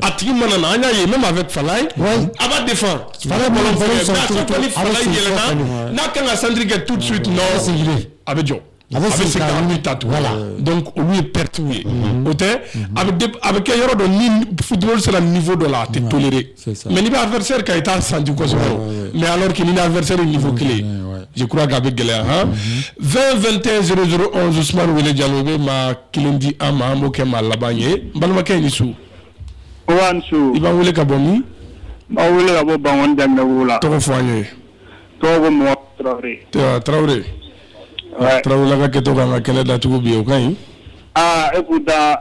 A tigi mana an y'a ye ne maa bɛ fa ye a b'a de fa n'a kan ka sanji kɛ tu su tun a bɛ jɔ a bɛ se ka ta tu la olu ye pɛreti ye o tɛ a bɛ kɛ yɔrɔ dɔn ni sera ninfo dɔ la a tɛ tore mais n'i bɛ adversaire kan i t'a senti kosɛbɛ o mais alors que n'i n'a adversaire ye niveau kelen ye je crois que a bɛ gɛlɛya han 20 21 00 11 Ousmane Wele Diallo bɛ maa kelen di an ma an b'o kɛ maa laban ye n balimakɛ i ni su aw ni su i b'an wele ka bɔ min n b'aw wele ka bɔ Bankɔni Janginɛbugu la tɔgɔ fɔ an ye tɔgɔ ko Mamadu Tarawele Tarawele Taraweleka kɛ to ka ka kɛlɛ daugu bi o ka ɲi e ko da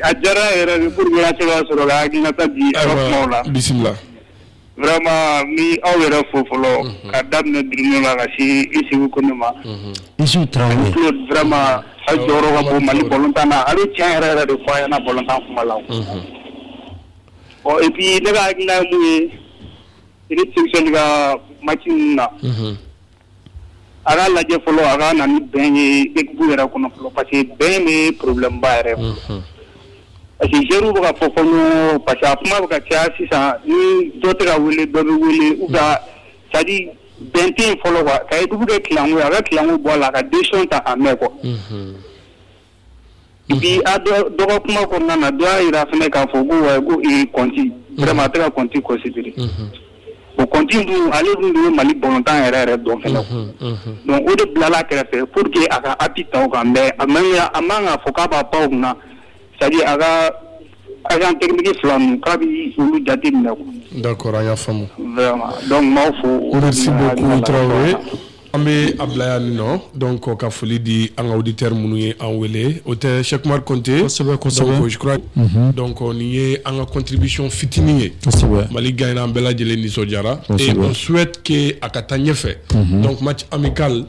a diyara yɛrɛ ni furu cogoya sɔrɔ la ata bi la bisimila bilarema ni aw yɛrɛ fɔ fɔlɔ ka daminɛ bi la ka se i segu ko ne ma misi tarawelema a jɔyɔrɔ ko mali bɔtan na a cɛ yɛrɛ yɛrɛ de fɔ a ɲɛna bɔtan kuma la ɔ ipi ne ka hakili ye i ka mati na Ala lajɛ fɔlɔ a ka nan bɛn ye e yɛrɛ kɔnɔ pa que bɛn de ye porobibilenba yɛrɛ pa que jeliw bɛ ka fɔ ko pa que a kuma bɛ ka caya sisan ni dɔ tɛ wele dɔ bɛ wele u ka di bɛn fɔlɔ ka dugu kɛ a bɛ kiku bɔ a la ka den ta a mɛn kɔ bi a dɔ ka kuma kɔnɔna na dɔw y'a jira fana k'a fɔ ko kɔnti vraiment a tɛ ka kɔnti considérer o kɔnti dun ale dun de ye Mali balontan yɛrɛ yɛrɛ dɔn fana donc o de bilala kɛrɛfɛ pour que a ka appui ta o kan mais a a man kan k'a fɔ k'a b'a pan o kunna c'est-à-dire a ka Ayiwa an teri fila k'a bɛ olu jate minɛ da kɔrɔ y'a faamu dɔnku fo an bɛ a bila yan min nɔ dɔn kɔ ka foli di an kadi teri minnu ye an wele o tɛ sɛkuma kɔnte kosɛbɛsɛbɛkura dɔn ye an katigibiy fitinin ye mali ga an bɛɛ lajɛlen nisɔndiyara su ke a ka taa ɲɛfɛ dɔnti an bɛ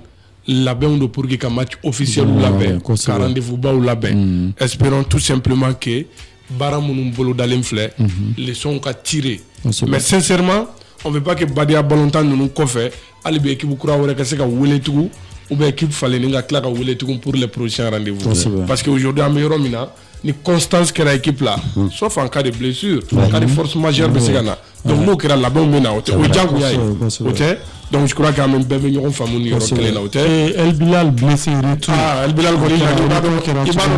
labɛnw don pour que ka match officiel labɛn ka rendez-vous baw labɛn mm. espérons tout simplement que baara minnu bolodalen filɛ mhm. leçon ka tirer mais sincèrement on veut pas que badenya balontan ninnu kɔfɛ hali bi équipe kura wɛrɛ ka se ka wele tugun ou bien équipe falenni ka tila ka wele tugun pour les prochains rendez-vous parce que aujourd'hui an bɛ yɔrɔ min na ni kɔnstans kɛra ekip la hmm. so fan ka de bilisi hmm. ka foroorosi masi bɛ se ka na hmm. dɔnku n'o kɛra labɛnw bɛ na o tɛ o jagoya ye o tɛ dɔnkura kɛ an bɛɛ bɛ ɲɔgɔn faamu ni yɔrɔ kelen na o tɛ bilisi bilisi i b'a dɔn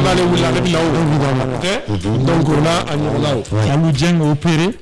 n'ale wili ale bɛ na o tɛ dɔnku a ɲɔgɔn o an bɛ jɛ o peere